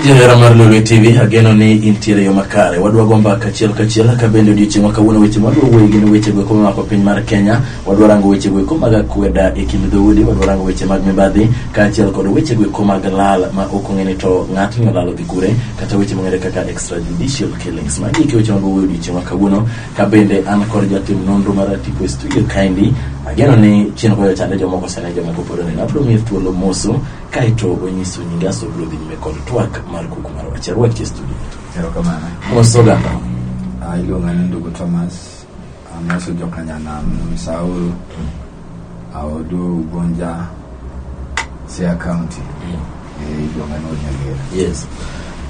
Johera mar Lolwe TV ageno ni intiere yo makare. Wadwa go mbaka achiel kachiel ka bende odiochieng' ma kawuono weche mwadwa wuoye gin weche goeko mamako piny mar Kenya. Wadwa rango weche goeko mag akweda e kind dhoudi, wadwa rango weche mag mibadhi kaachiel kod weche goeko mag lal ma ok ong'e ni to ng'atni olalo gi kure kata weche mong'ere kaka extrajudicial killings ma giki weche mago wuoyo odiochieng' ma kawuono ka bende an kod jatim nonro mar tipo e studio kaendi ageno ni chien koyo chande jomoko sene jomoko pod oneno abiro miye thuolo moso kaeto onyiso nyinge aso biro dhi nyime kod twak mar kuku mar wach arwaki e studio Erokamano. moso ganda Ah, iluonga ni ndugu Thomas amoso jokanyanam saul aodo ugonja sia county e iluonga ni onyagera yes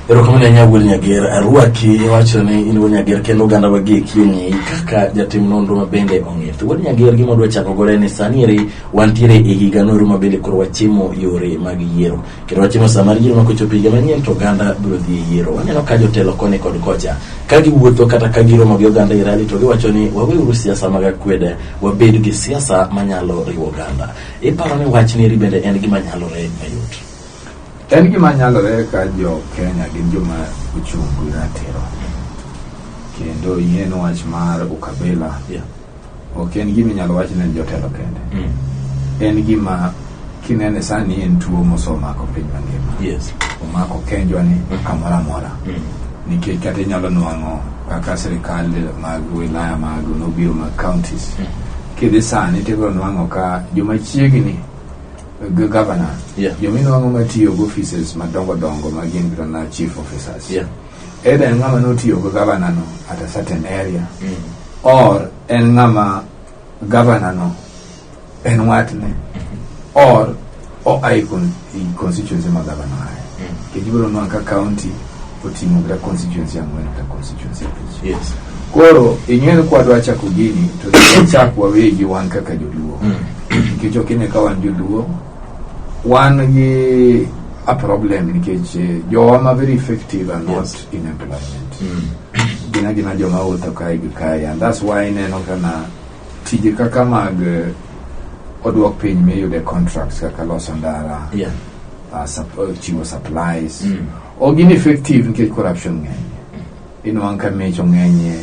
erokamano ahinya wuod nyager arwaki iwacho ni in wuod nyager kendo oganda wa gie kieng'i kaka jatim nonro ma bende ong'ith wuod nyager gima dwa chako gore ni sani eri wantiere e higa noru ma bende koro wachimo yore mag yiero Kendo wachino sama yiero mako chopo higa manyien to oganda biro dhi e yiero. Waneno ka jotelo koni kod kocha ka giwuotho kata ka giromo gi oganda e rali to giwacho ni waweuru siasa mag akwede wabed gi siasa manyalo riwo oganda. Iparo ni wach ni bende en gima nyalore mayot. En gima nyalore ka jo Kenya gin joma ochung' gi ratiro kendo yien wach mar ukabila yeah. ok en gima inyalo wach ne jotelo kende Mm. en gima kinene sani en tuo mosemako piny mangima Yes. omako kenjwa ni kamoro amora Mm. nikech kata inyalo nwang'o kaka sirikal mag wilaya mag nobiro mag counties kidhi sani tibiro nwang'o ka joma chiegni g- governor Yeah. joma inwang'o matiyo gi offices madongo dongo ma gin kata na chief officers Yeah. Either en ng'ama notiyo gi gavana no at a certain area or en ng'ama gavana no en watne or o ai con- i constituency ma gavana aye kech ibiro nwa ka county oting'o kata constituency ang'wen kata constituency abich Yes. koro ing'e ni kwadwa chako gini to wachak wawegi wan kaka joluo nikech ok ine ka wan joluo Wan gi a problem nikech eh, jowa ma very effective are not Yes. in employment. Mm. Gin agina joma wuotho kae gi kae and that's why ineno kana tije kaka mag eh, oduok piny miyude contracts kaka loso ndara, Yeah. uh, sup- uh, chiwo supplies. Mm. Ok gin effective nikech corruption ng'eny. Inwang' ka mich ong'enyie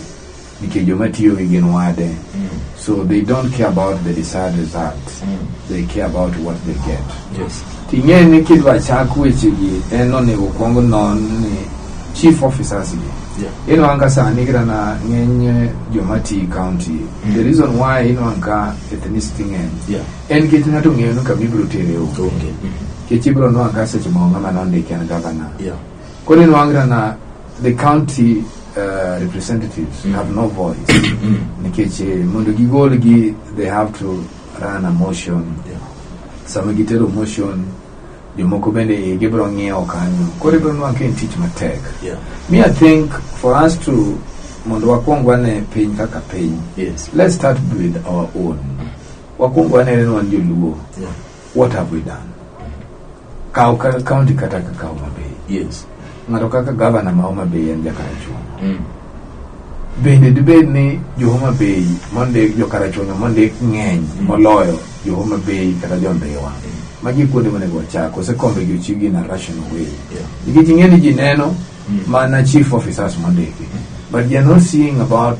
Nikech joma tiyogi gin wade. Mm. So they don't care about the desired result. Mm. They care about what they get. Yes. Ting'e ni kidwa chak wechegi en onego kwong non ni chief officers gi. Yeah. Ino anka sani kira na ng'eny joma ti county. Mm. The reason why ino anka ethnicity ng'eny. Yeah. En kech ng'ato ng'eyo ni kama ibiro tere onge. Okay. Mm. Kech ibiro nwa anka seche ma onge mana ondike en governor. Yeah. Kwa nini Wangira na the county uh, representatives mm. have no voice? Mm. Nikech eh, mondo gigolgi they have to run a motion. Yeah. Sama gitero motion jomoko bende eh, gibiro ng'iewo kanyo. Koro ibiro nwa ka en tich matek. Yeah. Me I think for us to mondo wakwong wane piny kaka piny. Yes. Let's start with our own. Wakwong wane ni wan joluo. Yeah. what have we done kaw ka- county kata kaka homa bay yes ng'ato kaka gavana ma homa bay en jakarachuonyo Mm. bende dibed ni johoma bay mondik jokarachuonyo mondik ng'eny moloyo johoma bay kata jondhiwa magi kuonde monego wachak osekombe jochiwgi in a rational way Yeah. nikech ing'e ni ji neno Mm. mana chief officers mondiki but they are not seeing about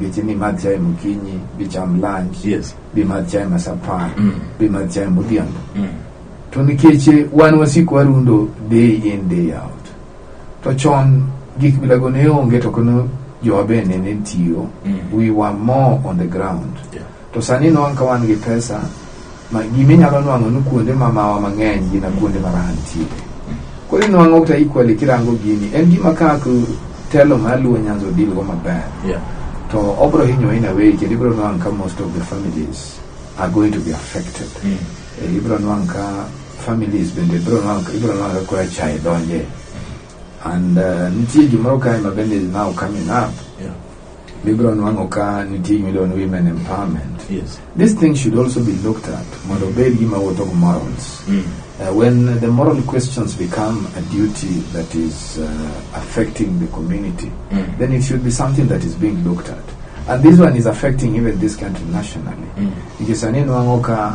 Ngeche ni madh chae mokinyi, bicham lunch, Yes. bimadh chae masapar, Mm. bimadh chae modhiambo. Mm. To nikech eh, wan wasiko warundo day in day out. To chon gik milago ne onge to kono jowa be nene tiyo. Mm. We were more on the ground. Yeah. To sani nwang' ka wan gi pesa ma gima inyalo nwang'o ni kuonde ma mawa mang'eny gina kuonde ma raha nitie. Koro inwang'o kata equally kirango gini en gima kaka telo ma luo nyanza odil go maber. Yeah. To obro hinyo in a way kendo ibro nwang' ka most of the families are going to be affected. Mm. Eh, ibro nwang' ka families bende ibro nwang' ibro nwang' ka kora chae donje. And uh, nitie gimoro kae ma bende is now coming up. Yeah. Bibro nwang'o ka nitie gimiluongo ni women empowerment. Yes. This thing should also be looked at mondo obed gima wuotho gi morals. Mm. Uh, when the moral questions become a duty that is uh, affecting the community, Mm. then it should be something that is being looked at. And this one is affecting even this country nationally. Mm. Nikech sani nwang'o ka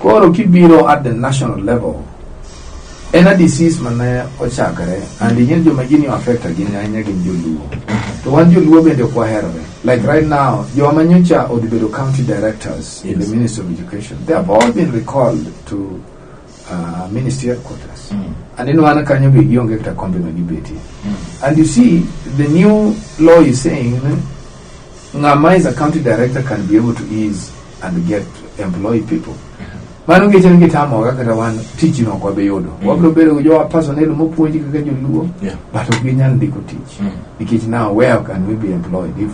Koro kibiro at the national level, en a disease mane ochakre and ing'e joma gini affect ahinya ahinya gin joluo to wan joluo bende ok waherore like right now joma nyocha odhi bedo county directors in the ministry of education they have all been recalled to uh, ministry headquarters and in one kanyo be gionge kata kombe ma gibetie and you see the new law is saying Ng'ama is a county director can be able to ease and get employ people. Mano ngeche ni gitamoga kata wan tich no ok wabi yudo. Mm. Wabiro bedo gi jowa personnel mopuonji kaka joluo. Yeah. But ok ginyal ndiko tich. Mm. Nikech now where can we be employed if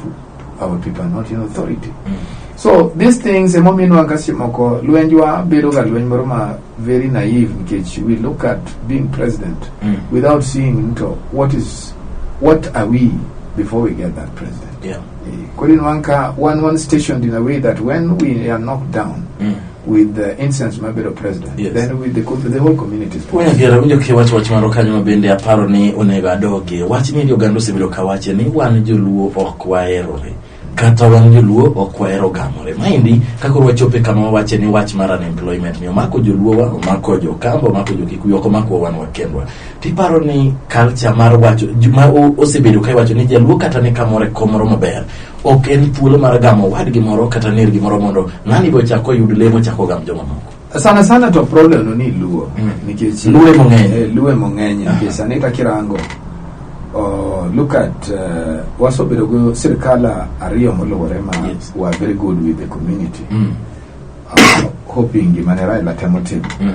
our people are not in authority? Mm. So these things emomiyo inwanga seche moko lwenjwa bedo ga lweny moro ma very naive nikech we look at being president Mm. without seeing into what is what are we before we get that president. Yeah. Eh, Queen Wanka, one one stationed in a way that when we are knocked down Mm. with the incense Mabel of president, Yes. then we, the, co- the whole community is Wena gera winjo ki wach wach moro kanyo ma bende aparo ni onego adogie. Wach ni oganda osebedo ka wache ni wan joluo ok waherore. Kata wan joluo ok wahero gamore. Maendi ka koro wachope kama wawache ni wach mar unemployment ni omako joluowa, omako jokamba, omako jokikuyu, ok omakowa wan wakendwa. tiparo ni culture mar wacho ju- ma o- osebedo ka iwacho ni jaluo kata ni kamoro e kom moro maber ok en thuolo mar gamo wadgi moro kata ner gimoro mondo ng'ani be ochak oyud lemo chak ogam jomamoko sana sana to problem no ni luo Mm. nikech Luo emo ng'eny. Eh, luo emo ng'eny nikech sani ka kirango oh, look at uh, wasobedo go sirkal ariyo moluwore ma Yes. were very good with the community Mm, uh, hoping gimane Raila temo timo mm,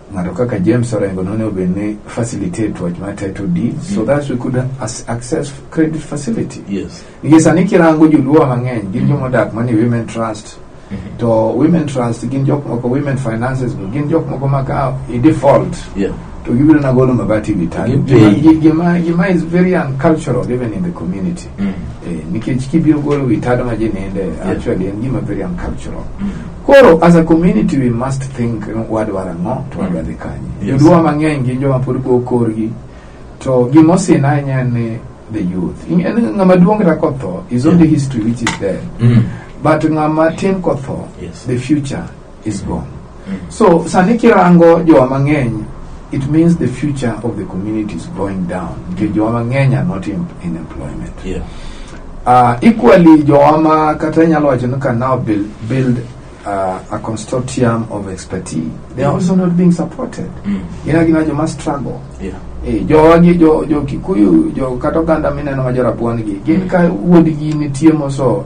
ng'ato kaka James Orengo none obed ni facilitate wach mar title deed mm. so that we could as access credit facility yes. nikech sani kirango joluo mang'eny gin mm. joma odak mani women trust mm -hmm. to women trust gin jok moko women finances go gin jok moko maka i default yeah. to gibiro nagolo mabati vitali gima, gima, gima is very uncultural even in the community Mm. Eh, nikech kibiro golo wi tado ma ji ninde Yeah. actually en gima very uncultural Mm. koro as a community we must think you know, wadwaro ang'o to wadwa dhi kanye Yes. joluo mang'eny gin joma pod go korgi to gima osin ahinya en ni the youth In- en ng'ama duong' kata kotho is only Yeah. history which is dead Mm. but ng'ama tin kotho Yes. the future is gone. So sani kirango jowa mang'eny it means the future of the community is going down because jowa mang'eny are not in, in employment. Yeah. Uh, equally jowa ma kata inyalo wacho ni can now build, build uh, a consortium of expertise they are also not being supported. Mm. Gina gina joma struggle. Yeah. Eh, jowa gi jo, jo Kikuyu jo kata oganda mineno ma jo Rabuon gi gin ka wuodgi nitie moso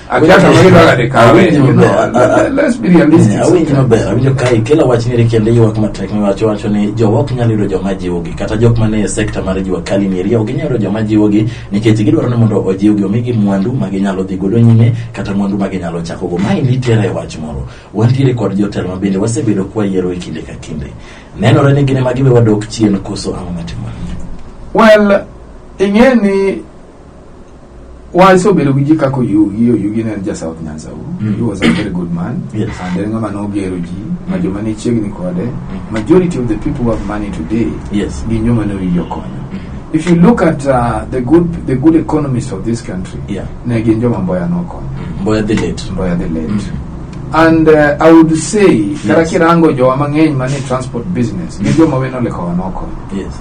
Awinjo Achako maber. kila dakika Awinjo awe. maber. Let- let- let's be realistic Eh, Awinjo sometimes. maber. Awinjo ka ikelo wach ni kendo ywak matek ni wacho wacho ni jowa ok nyal yudo joma jiwogi kata jok man e sekta mar jua kali ni eria ok ginyal yudo joma jiwogi nikech gidwaro ni mondo ojiwgi omigi mwandu ma ginyalo dhi godo nyime kata mwandu ma ginyalo chako go. Mae nitiere e wach moro. Wantiere kod jotelo ma bende wasebedo kwa yiero e kinde ka kinde. Nenore ni gin ema giwe wadok chien koso ang'o matimore. Well, ing'e ni Well, so bedo gi ji kaka Oyugi, Oyugi ne en ja South Nyanza uru. Mm. He was a very good man. Yes. And en ng'ama nogero ji, ma joma ne chiegni kode. Majority of the people who have money today Yes. gin joma ne owinjo konyo. If you look at uh, the good the good economists of this country, Yeah. ne gin joma Mboya nokonyo. Mboya the late. Mboya the late. Mm. And uh, I would say, kata Yes. kirango jowa mang'eny mane transport business, gin joma weno lekowa nokonyo. Yes.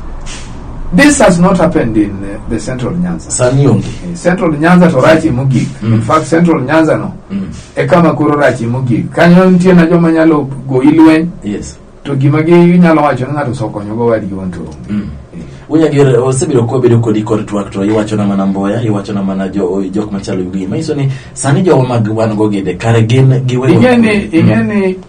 This has not happened in uh, the central Nyanza. Sani onge. Eh, Central Nyanza to rach imogik. Mm. In fact, central Nyanza no Mm. e kama koro rach imogik. Kanyo nitie na joma nyalo goyi lweny Yes. to gima ginyalo wacho ni ng'ato osekonyogo wadgi wan to onge. Mm. Eh, Unyagere osebedo kwa bedo kodi kod twak to iwacho na mana mboya, iwacho na mana jo jok machalo gi. Manyiso ni sani jowa mag wan go gede kare gin giweyo. Ing'e ni ing'e ni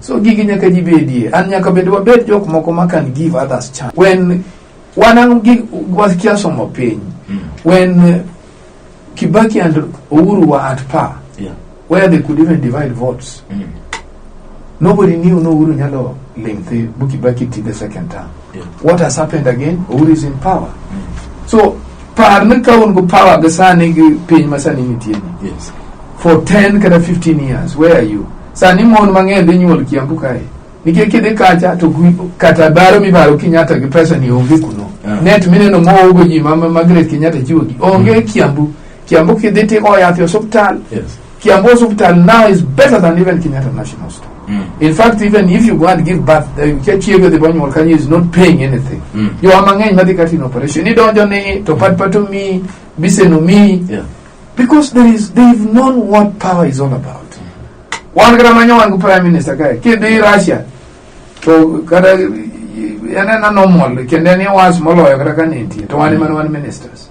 so gigi nyaka ji bedie and nyaka bende wabed jok moko ma can give others chance when wanang gig wakia somo piny when uh, kibaki and uhuru were at par Yeah. where they could even divide votes nobody knew no uhuru nyalo ling thi bu kibaki ti the second term Yeah. What has happened again? Uhuru is in power. Mm. So par ni ka un gu power ga sani gi piny ma sani nitie ni. Yes. For 10 kata 15 years, where are you? Sani mon mang'eny dhi nyuol Kiambu kae. Nikech kidhi kacha to gwi- kata baro mibaro Kenyatta gi pesa ni onge kuno. Yeah. Net mineno mogo ji ma ma- Margaret Kenyatta chiwo gi onge Kiambu. Kiambu kidhi tiko yath e osiptal Yes. Kiambu Hospital now is better than even Kenyatta National Hospital. Mm. In fact, even if you go and give birth, uh, Chiego the Bonyo Kanyi is not paying anything. Mm. You are mangany madi kati in operation. Ni donjo ni, to pat patu mi, bisenu mi. Yeah. Because there is, they've known what power is all about. Wan kata manyo wangu prime minister kaya, kidi Russia. To kata, yana na normal, kende ni was molo ya kata kanenti. To wani manu wani ministers.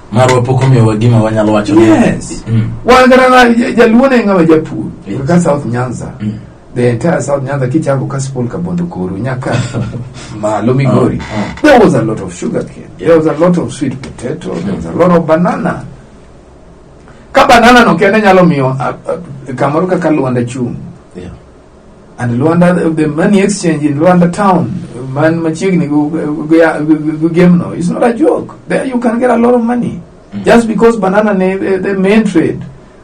marwa pok omiyowa gima wanyalo wacho ni- Yes. Mm. wan kata na ja- jaluo ne ng'ama japur Yes. kaka south nyanza Mm. the entire south nyanza kichako kasipul kabondo koru nyaka malo migori Ah, ah. there was a lot of sugar cane there was a lot of sweet potato there was a lot of banana ka banana no kende nyalo miyo a- a- kamoro kaka lwanda chung Yeah. And Luanda, the money exchange in Luanda town, man machiegni gu- gu- gu- gu- gemno, it's not a joke. There you can get a lot of money. Just because banana ne the, the main trade.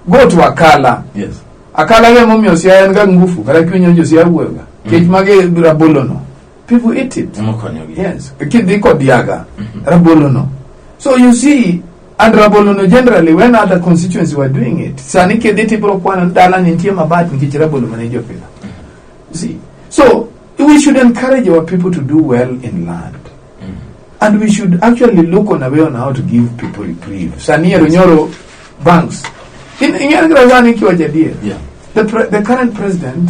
Go to Akala. Yes. Akala ge momi osia en ga ngufu, kala kinyo jo sia wuega. Kech mage rabolono. people eat it Ema konyo gi. yes kidhi kod yaga rabolo no so you see and rabolo no generally when other constituency were doing it sani kidhi tibro kwano ni dala ni nitie mabat nikech rabolo mane jopidho You see so we should encourage our people to do well in land and we should actually look on a way on how to give people reprieve sani ero nyoro banks In- ing'eyo kira sani kiwacho adier Yeah. the, pre- the current president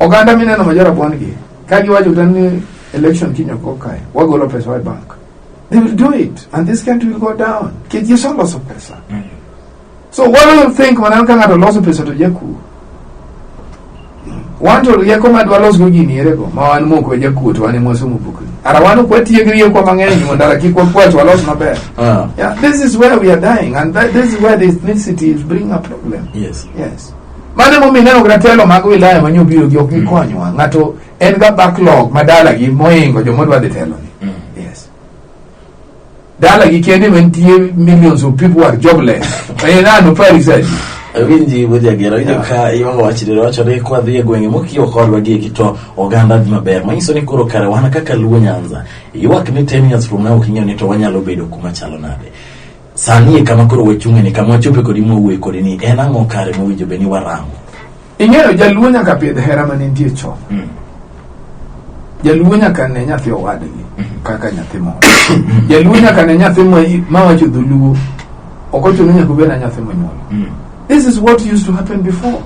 Oganda mineno ma jorabuon gi ka giwacho kata ni election kiny ok okae wagolo pesa e bank they will do it and this country will go down nikech yesu oloso pesa so what do you think maneno ka ng'ato loso pesa to jakuo wan to rieko ma dwalosgo gini erego ma wan moko e jakuo to wan e mwasomo bukni ara wan ok watiyo gi riekwa mang'eny mondo ara kik wakwach walos maber Ah, yeah, this is where we are dying and that, this is where the ethnicity is bringing a problem yes. yes Mano emomiyo ineno kata telo mag wilaya ma nyobiro gi ok gikonywa. Mm. Ng'ato en ga backlog ma dalagi moingo joma odwa dhi teloni. Mm. Yes. Dalagi kende mantie millions of people are jobless. Ayo nano pari sadi. Winji bujagero ino ka iwanga wachiriro wacho ni kwa dhiye gwenge mokiyo kodwa gi kito oganda dhi maber. Manyiso ni koro kare wana kaka luo nyanza. Iwak ni 10 years from now kinyo ni to wanyalo bedo kuma chalo nade. Sani e kama koro wachung'e ni kama wachope kodi mwawuoye kodi ni en ang'o kare mowinjo be ni warango. Ing'eyo jaluo nyaka pidh hera mane nitie chon. Mm. Jaluo nyaka ne nyathi owadgi mm-hmm. kaka nyathi moro. Mm-hmm. Jaluo nyaka ne nyathi ma wacho dholuo. Ok ochuno nyaka obed na nyathi monyuol. Mm. This is what used to happen before.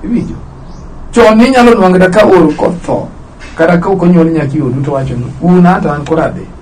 Iwinjo? Chon inyalo nwang'da ka oro kotho kata ka ok onyuol nyaki odu to wacho ni un ata an koro adhi.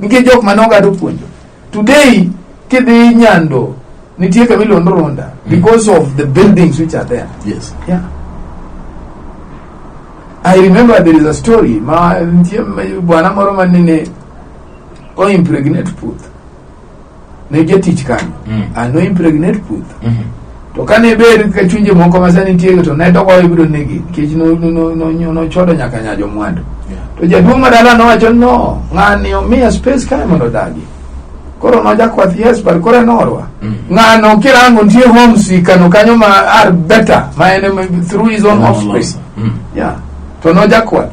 nitie jok ma nogado puonjo today kidhi nyando nitie kama iluongo runda because of the buildings which are there Yes. yeah. I remember there is a story ma nitie ma- bwana moro ma nene o impregnate puth ne jatich kanyo Mm. and no impregnate puth Mhm. to kane ber ka chunje moko ma sani nitiego to ne doko ibiro negi nikech no- no- no- no- no- nochodo nyaka nyajo mwandu Yeah. to jaduong' madala nowacho no ng'ani omiya space kae mondo odagi koro nojakwath yes but koro enorwa Mm. ng'ano kirango nitie homesick kano kanyo ma are better ma en em- through his own Ng'ano offspring loso. Mm. yeah to nojakwath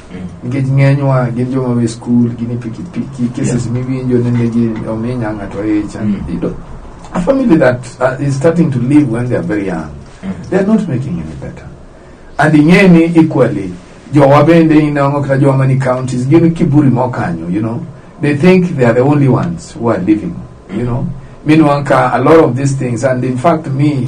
nikech ng'enywa gin joma we skul gin e pikipiki cases yeah. miwinjo nende gi ominya ng'ato icha mm. you know, a family that uh, is starting to live when they are very young mm. they are not making any better and ing'eni equally jowa bende inang'o kata jowa mani counties gin kiburi mokanyo you know they think they are the only ones who are living you know meanwhile a lot of these things and in fact me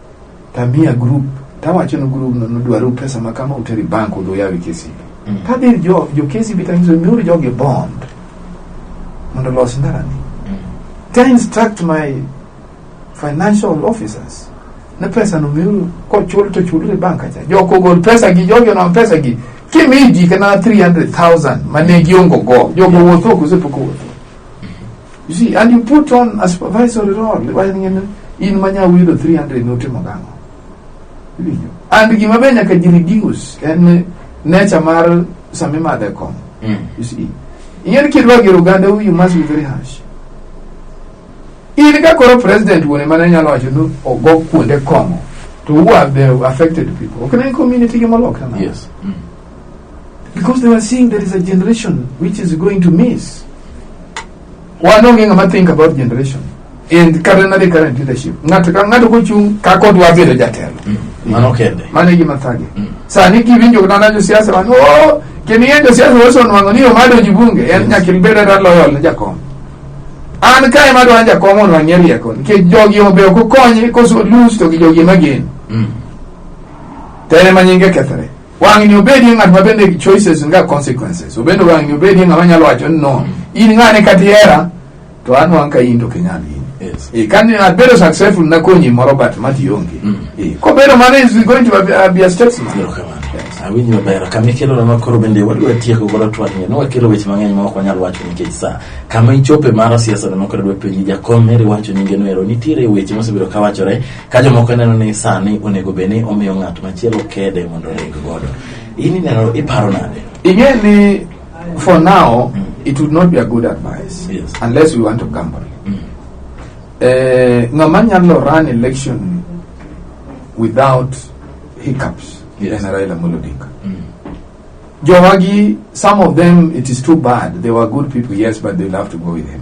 Tamia group tawacho ni group no nodwaru pesa ma kama uteri bank udhi uyawi KCB Mm. kadhi jo jo KCB tanyiso miuru jogi bond mondo olos ndarani Mm. ta instruct my financial officers ne pesa no miuru kochul to chulre bank acha jok ogol pesa gi jogi onam pesa gi kimi ji kana 300000 mane giongo go jogo wuotho kose pok owuotho You see, and you put on a supervisory role. Why ngene in manya wilo 300 note magano. Iwinjo. And gima be nyaka ji reduce en nature mar sama imadhe kom. Mm. You see. Ing'eni kidwa gero oganda you must be very harsh. In ka koro president wuone mane nyalo wacho ni ogo kuonde kong'o to who are the affected people. Ok ne community gi molokre nade? Yes. Mm. Because they were seeing there is a generation which is going to miss. Wan onge ng'ama think about generation. And current the current leadership. Ng'ato ka ng'ato kochung' ka kod wabedo jatelo. Mano kende. Mano e gima thage. Sani kiwinjo nana josiasa wan, "Oh, kendo yie josiasa osenwang'o ni omadonji bunge." En nyaka ibed kata loyal ne jakom. An kae madwa jakom onwang'ie rieko nikech jogi obe ok okonye koso lose to gi jogi ema geno. Tene ma nyinge kethre. Wang'ni obedie ng'at ma bende choices nga consequences. Obende wang'ni obedie ng'ama nyalo wacho ni no, in ng'ane kata ihera to an wang' ka in to kinyal in. Yes. Eh, kani abedo successful nakonyi moro but mati onge. Mm. Eh, kobedo mano is going to be a, be a statesman. Erokamano. Yes. Awinjo maber. Kama ikelona ma koro bende wadwa tieko godo twang'ni. Ne wakelo weche mang'eny ma ok wanyal wacho nikech sa. Kama ichope mar siasa ne mokore dwa penji jakom Mary wacho nyinge no ero. Nitiere weche mosebedo ka wachore Ka jomoko neno ni sani onego bed ni omiyo ng'at machielo kede mondo oreg godo, in ineno iparo nade? Ing'e ni for now mm. it would not be a good advice yes. unless we want to gamble. Mm. Eh, ng'ama nyalo run election without hiccups yes. en Raila Amolo Odinga. Mm. Jowagi, some of them it is too bad. They were good people, yes, but they love to go with him.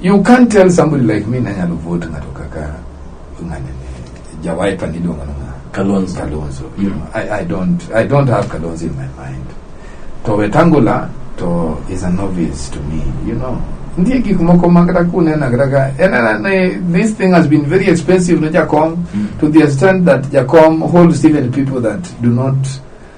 You can't tell somebody like me nanyalo vote ng'ato kaka ng'ane ni jawaipa niluongo ni ng'a Kalonzo. Kalonzo. You know, I, I don't I don't have Kalonzo in my mind. To Wetangula to is a novice to me, you know. Ndie gik moko ma kata kunena kata ka en ena ni this thing has been very expensive ne Jakom to the extent that Jakom holds even people that do not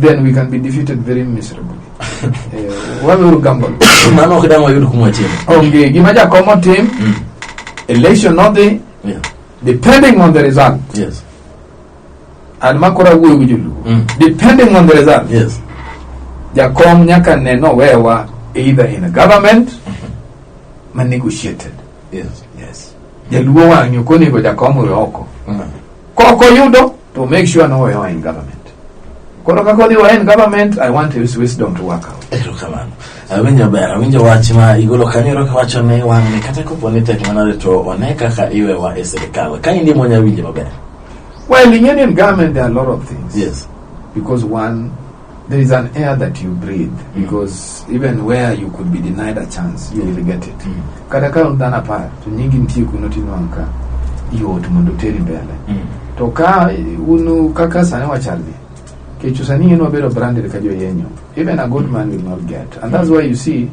then we can be defeated very miserably eh, wameuru gamble mano ok dang' wayud kuma chielo onge gima jakom otim Mm. election nodhi Yeah. depending on the result yes an ma koro awuoyo gi joluo Mm. depending on the result yes jakom nyaka ne nowewa either in a government ma negotiated yes yes jaluo wang'yo konego jakom owe oko Mm. koko yudo to make sure now we are in government. Koro ka kodi wa en government, I want his wisdom to work out. erokamano awinjo ber awinjo wach ma igolo kanyo ero kiwacho ni wang'ni kata kopo ni tek manade to one kaka iwewa e sirikal ka in imonya winjo maber Well, in Indian government, there are a lot of things. yes Because one there is an air that you breathe mm. because mm. even where you could be denied a chance you will get it mm. kata ka dhano apar to nyingi nitie kuno tinwang' ka yot mondo teri mbele mm. to ka unu kaka sani wachalni kechu sani in wabedo branded ka joyenyo even a good man will not get and that's why you see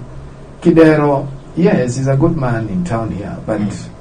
kidero yes he's a good man in town here but mm.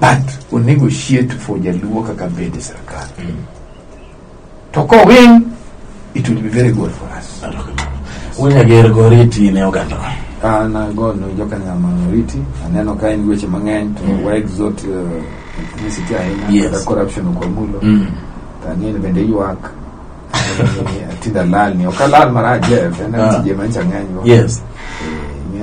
but onego shiet for jaluo kaka bede sirkal mm. to kowing it will be very good for us unyager goriti ne oganda an agono jokanyama oriti aneno ka en weche mang'eny to mm. waexot uh, ethnicity ahinya yes. kata corruption okwamulo mm. tang'eni bende ywak Ati dalal ni okalal mara Jeff en Ah. tije ma chang'anyo. yes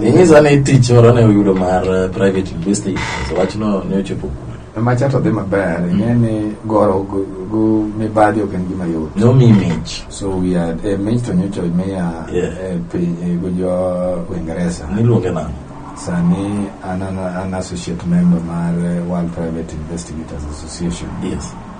inyisa ni tich moro ne uyudo mar eh, private university so wachno ne ochopo kure Macha to dhi maber. Ing'e ni goro go- go mibadhi ok en gima yot. nomi mich So we are eh, mich to nyocha imiya Yeah. eh, piny eh, go jo Uingereza. niluonge nang'o Sani an an an associate member mar eh, World Private Investigators Association. yes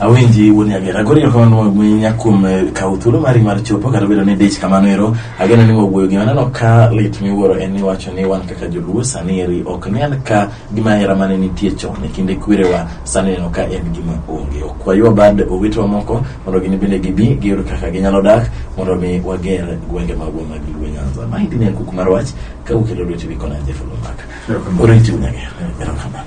Awenji wuon Nyagera, koro erokamano ahinya kuom eh, kawo thuolo mari mar chopo kata obedo ni dich kamano ero. Ageno ni wawuoyo gi aneno ka lit miwuoro en ni wacho ni wan kaka joluo sani eri ok ne an ka gima hera mane nitie chon e kinde kwerewa sani neno ka en gima onge. Ok waywa bad owetewa moko mondo gin bende gibi giyud kaka ginyalo dak mondo mi wager gwenge magwa mag Luo Nyanza. Ma hindi ne en kuku mar wach ka ukelo lweti wikona Jeff Olumaka. Erokamano. Koro itiw Nyagera. Erokamano.